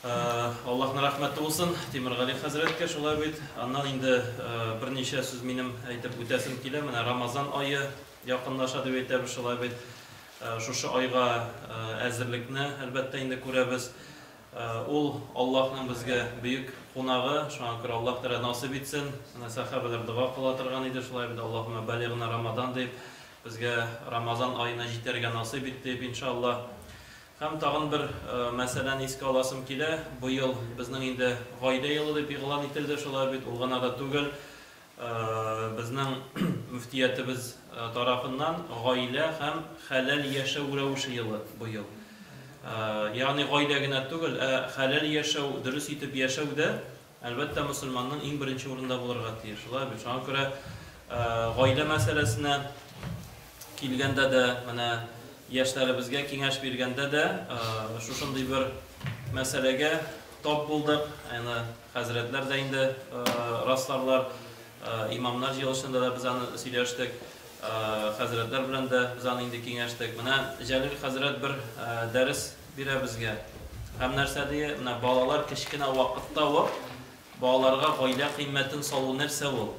Аллаһның рәхмәте булсын Тимергали хәзрәткә, шулай бит. Аннан инде берничә сүз минем әйтеп үтәсем килә. Менә Рамазан ае якынлаша дип әйтәбез, шулай бит. Шушы айга әзерлекне, әлбәттә, инде күрәбез. Ул Аллаһның безгә бөек кунагы, шуңа күрә Аллаһ Тәгалә насыйп итсен. Менә сәхабәләр дога кыла торган иде, шулай бит, Аллаһуммә балигъна Рамадан дип, безгә Рамазан аена җитәргә насыйп ит дип, иншаллаһ. Һәм тагын бер мәсьәләне искә аласым килә, быел безнең инде гаилә елы дип игълан ителде, шулай бит, ул гына да түгел, безнең мөфтиятебез тарафыннан гаилә һәм хәләл яшәү рәвеше елы быел. Ягъни гаилә генә түгел, ә хәләл яшәү, дөрес итеп яшәү дә Әлбәттә, мөселманның иң беренче урында булырга тиеш, шулай бит? Шуңа күрә гаилә мәсьәләсенә килгәндә дә, менә яшьләребезгә киңәш биргәндә дә шушындый бер мәсьәләгә тап булдык. Аны хәзрәтләр дә инде расларлар, имамнар җыелышында да без аны сөйләштек, хәзрәтләр белән дә без аны инде киңәштек. Менә Җәлил хәзрәт бер дәрес бирә безгә һәм нәрсә ди, менә балалар кечкенә вакытта ук балаларга гаилә кыйммәтен салу нәрсә ул?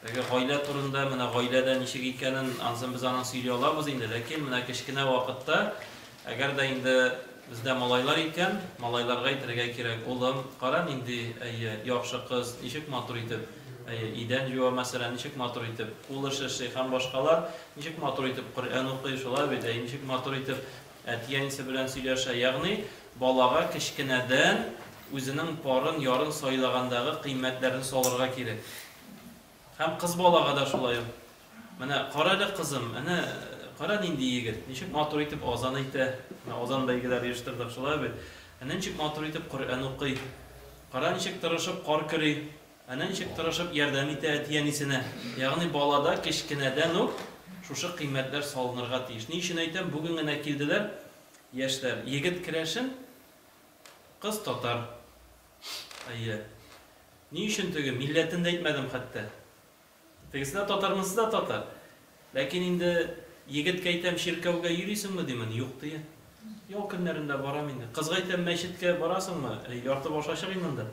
Теге гаилә турында, менә гаиләдә ничек икәнен ансын без анын сөйли алабыз инде, ләкин менә кечкенә вакытта, әгәр дә инде бездә малайлар икән, малайларга әйтергә кирәк, улым, кара нинди, әйе, яхшы кыз, ничек матур итеп, әйе, идән җуа, мәсәлән, ничек матур итеп, кул эше эшли һәм башкалар, ничек матур итеп Коръән укый, шулай бит, әйе, ничек матур итеп Әти-әнисе белән сөйләшә, ягъни балага кечкенәдән үзенең парын, ярын сайлагандагы кыйммәтләрне салырга кирәк. Һәм кыз балага да шулай ук. Менә кара әле, кызым, әнә кара нинди егет, ничек матур итеп азан әйтә, менә азан бәйгеләре оештырдык, шулай бит, әнә ничек матур итеп Коръән укый, кара, ничек тырышып кар көри. Әнә ничек тырышып ярдәм итә әти-әнисенә. Ягъни балада кечкенәдән үк шушы кыйммәтләр салынырга тиеш. Ни өчен әйтәм, бүген генә килделәр яшьләр. Егет керәшен, кыз татар. Әйе. Ни өчен теге милләтен дә әйтмәдем хәтта. Тегесе дә татар, монысы да татар. Ләкин инде егеткә әйтәм, чиркәүгә йөрисеңме, димен, юк, дия. Ял көннәрендә барам инде. Кызга әйтәм, мәчеткә барасыңмы? Әй, ярты баш ачык инде анда.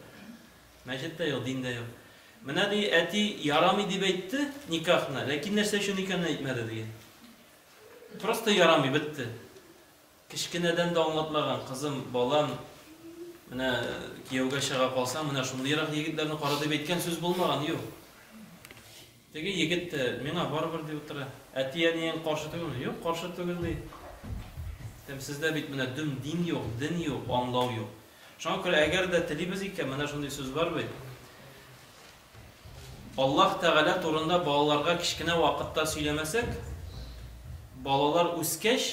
Мәчет тә юк, дин дә юк. Менә, ди, әти ярамый дип әйтте никахны, ләкин нәрсә өчен икәнен әйтмәде, дия. Просто ярамый, бетте. Кечкенәдән дә аңлатмаган, кызым, балам, менә кияүгә чыга калсаң, менә шундыйрак егетләрне кара дип әйткән сүз булмаган, юк. Теге егет тә, миңа барыбер, ди утыра. Әти-әниең каршы түгелме? Юк, каршы түгел, ди. Әйтәм, сездә бит менә дөм дин юк, ден юк, аңлау юк. Шуңа күрә, әгәр дә телибез икән, менә шундый сүз бар бит. Аллаһ Тәгалә турында балаларга кечкенә вакытта сөйләмәсәк, балалар үскәч,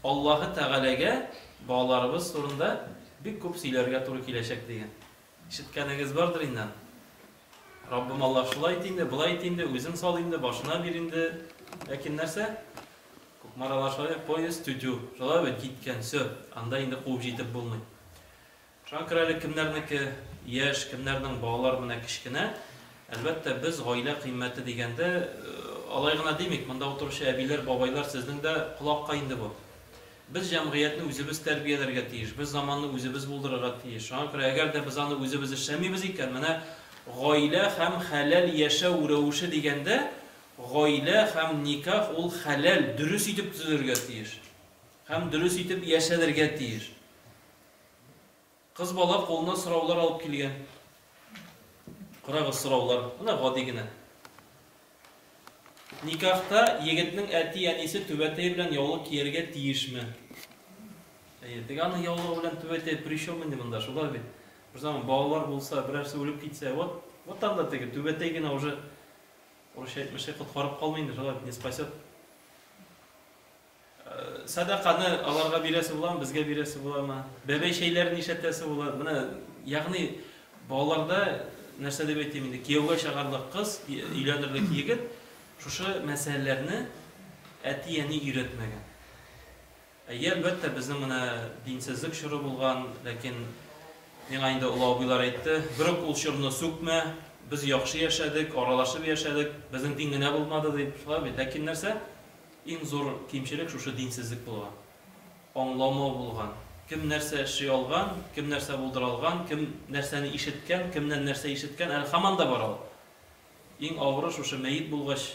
Аллаһы Тәгаләгә балаларыбыз турында бик күп сөйләргә туры киләчәк дигән. Ишеткәнегез бардыр инде аны. Раббым Аллаһ шулай ит инде, болай ит инде, үзең сал инде, башына бир инде. Ләкин нәрсә? Кукмаралар шулай, поезд тю-тю, шулай бит, киткән, всё, анда инде куып җитеп булмый. Шуңа күрә әле кемнәрнеке яшь, кемнәрнең балалары менә кечкенә. Әлбәттә, без гаилә кыйммәте дигәндә алай гына димик. Монда утыручы әбиләр, бабайлар, сезнең дә колакка инде бу. Без җәмгыятьне үзебез тәрбияләргә тиеш, без заманны үзебез булдырырга тиеш. Шуңа күрә әгәр дә без аны үзебез эшләмибез икән, менә гаилә һәм хәләл яшәү рәвеше дигәндә, гаилә һәм никах ул хәләл, дөрес итеп төзелергә тиеш һәм дөрес итеп яшәлергә тиеш. Кыз бала кулына сораулар алып килгән. Карагыз, сораулар. Менә гади генә. Никахта егетнең әти-әнисе түбәтәе белән яулык кияргә тиешме? Әйе, теге аның яулыгы белән түбәтәе при чем инде монда, шулай бит. Бер заман балалар булса, берәрсе үлеп китсә, вот, вот там да теге түбәтәй генә уже урысча әйтмешли коткарып калмый инде, шулай бит, не спасет. Сәдаканы аларга бирәсе буламы, безгә бирәсе буламы? Бәбәй чәйләрен ишәтәсе була. Менә, ягъни, балаларда, нәрсә дип әйтим инде, кияүгә чыгарлык кыз, өйләнерлек егет шушы мәсьәләләрне әти-әни өйрәтмәгән. Әйе, әлбәттә, безнең менә динсезлек чоры булган, ләкин миңа инде олы абыйлар әйтте, бер үк ул чорны сүкмә, без яхшы яшәдек, аралашып яшәдек, безнең дин генә булмады, дип. Шулай бит. Ләкин нәрсә? Иң зур кимчелек шушы динсезлек булган. Аңламау булган. Кем нәрсә эшли алган, кем нәрсә булдыра алган, кем нәрсәне ишеткән, кемнән нәрсә ишеткән, әле һаман да бар ул. Иң авыры шушы мәет булгач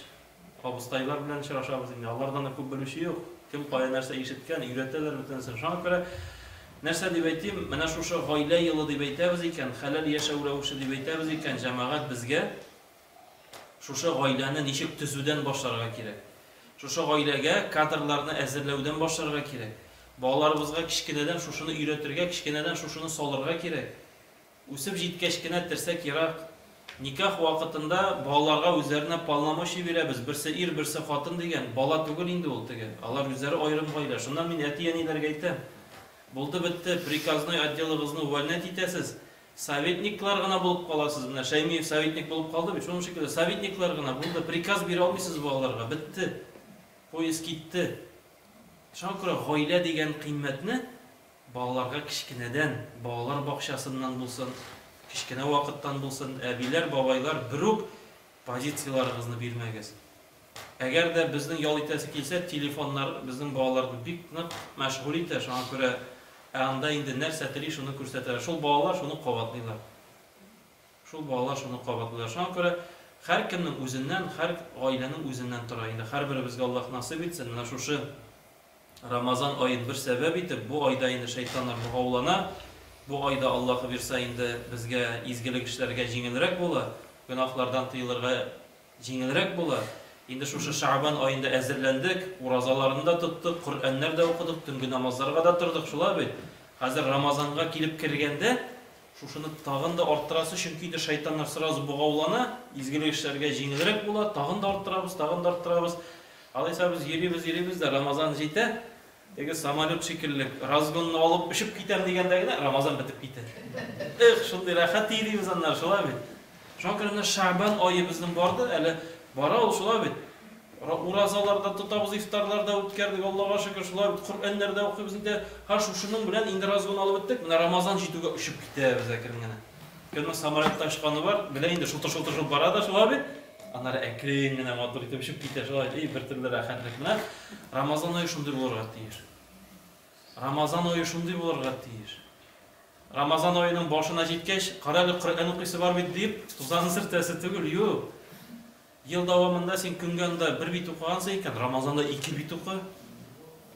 абыстайлар белән очрашабыз инде, алардан да күп белүче юк. Кем кая нәрсә ишеткән, өйрәтәләр бөтенесен. Шуңа күрә, нәрсә дип әйтим, менә шушы гаилә елы дип әйтәбез икән, хәләл яшәү рәвеше дип әйтәбез икән, җәмәгать безгә Шушы гаиләне ничек төзүдән башларга кирәк? Шушы гаиләгә кадрларны әзерләүдән башларга кирәк. Балаларыбызга кечкенәдән шушыны өйрәтергә, кечкенәдән шушыны салырга кирәк. Үсеп җиткәч кенә терсәк ерак. Никах вакытында балаларга үзләренә полномочий бирәбез, берсе ир, берсе хатын дигән, бала түгел инде ул теге, алар үзләре аерым гаилә. Шуннан мин әти-әниләргә әйтәм, булды-бетте, приказной отделыгызны увольнять итәсез, Советниклар гына булып каласыз, менә Шәймиев советник булып калды бит, шуның шикелле советниклар гына, булды, приказ бирә алмыйсыз балаларга, бетте, поезд китте. Шуңа күрә гаилә дигән кыйммәтне балаларга кечкенәдән, балалар бакчасыннан булсын, кечкенә вакыттан булсын, әбиләр, бабайлар, берүк позицияләрыгызны бирмәгез. Әгәр дә безнең ял итәсе килсә, телефоннар безнең балаларны бик нык мәшгуль итә, шуңа күрә ә анда инде нәрсә тели, шуны күрсәтәләр. Шул балалар шуны кабатлыйлар. Шул балалар шуны кабатлыйлар. Шуңа күрә һәркемнең үзеннән, һәр гаиләнең үзеннән тора. Инде һәрберебезгә Аллаһ насыйп итсен, менә шушы Рамазан аен бер сәбәп итеп, бу айда инде шәйтаннар богаулана, бу айда Аллаһы бирса инде безгә изгелек эшләргә җиңелрәк була, гөнаһлардан тыелырга Җиңелрәк була. Инде шушы Шәгъбан аенда әзерләндек, уразаларны да тоттык, Коръәннәр дә укыдык, төнге намазларга да тордык, шулай бит? Хәзер Рамазанга килеп кергәндә, шушыны тагын да арттырасы, чөнки инде шайтаннар сразу богаулана, изгелек эшләргә җиңелрәк була, тагын да арттырабыз, тагын да арттырабыз. Алайса без йөрибез, йөрибез дә, Рамазан җитә. Теге самолет шикелле, разгонны алып очып китәм дигәндә генә, Рамазан бетеп китә. Эх, шундый рәхәт тии дибез аннары, шулай бит. Шуңа күрә менә Шәгъбан ае безнең барды, әле бара ул, шулай бит. Уразалар да тотабыз, ифтарлар да үткәрдек, Аллага шөкер, шулай бит. Коръәннәр дә укыйбыз, инде һәр шушының белән инде разгон алып беттек, менә Рамазан җитүгә очып китәбез әкрен генә. Кемнең самолетта очканы бар, белә инде, шутыр-шутыр бара да шулай бит. Аннары әкрен генә матур итеп очып китә шулай, и бер төрле рәхәтлек. Менә Рамазан ае шундый булырга тиеш. Рамазан ае шундый булырга тиеш. Рамазан аеның башына җиткәч, карале Коръән укыйсы бар бит дип, тузан сертәсе түгел, юк. Ел дәвамында син көнгә анда бер бит укыгансың икән, Рамазанда ике бит укы.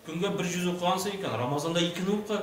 Көнгә бер җүз укыгансың икән, Рамазанда икене укы.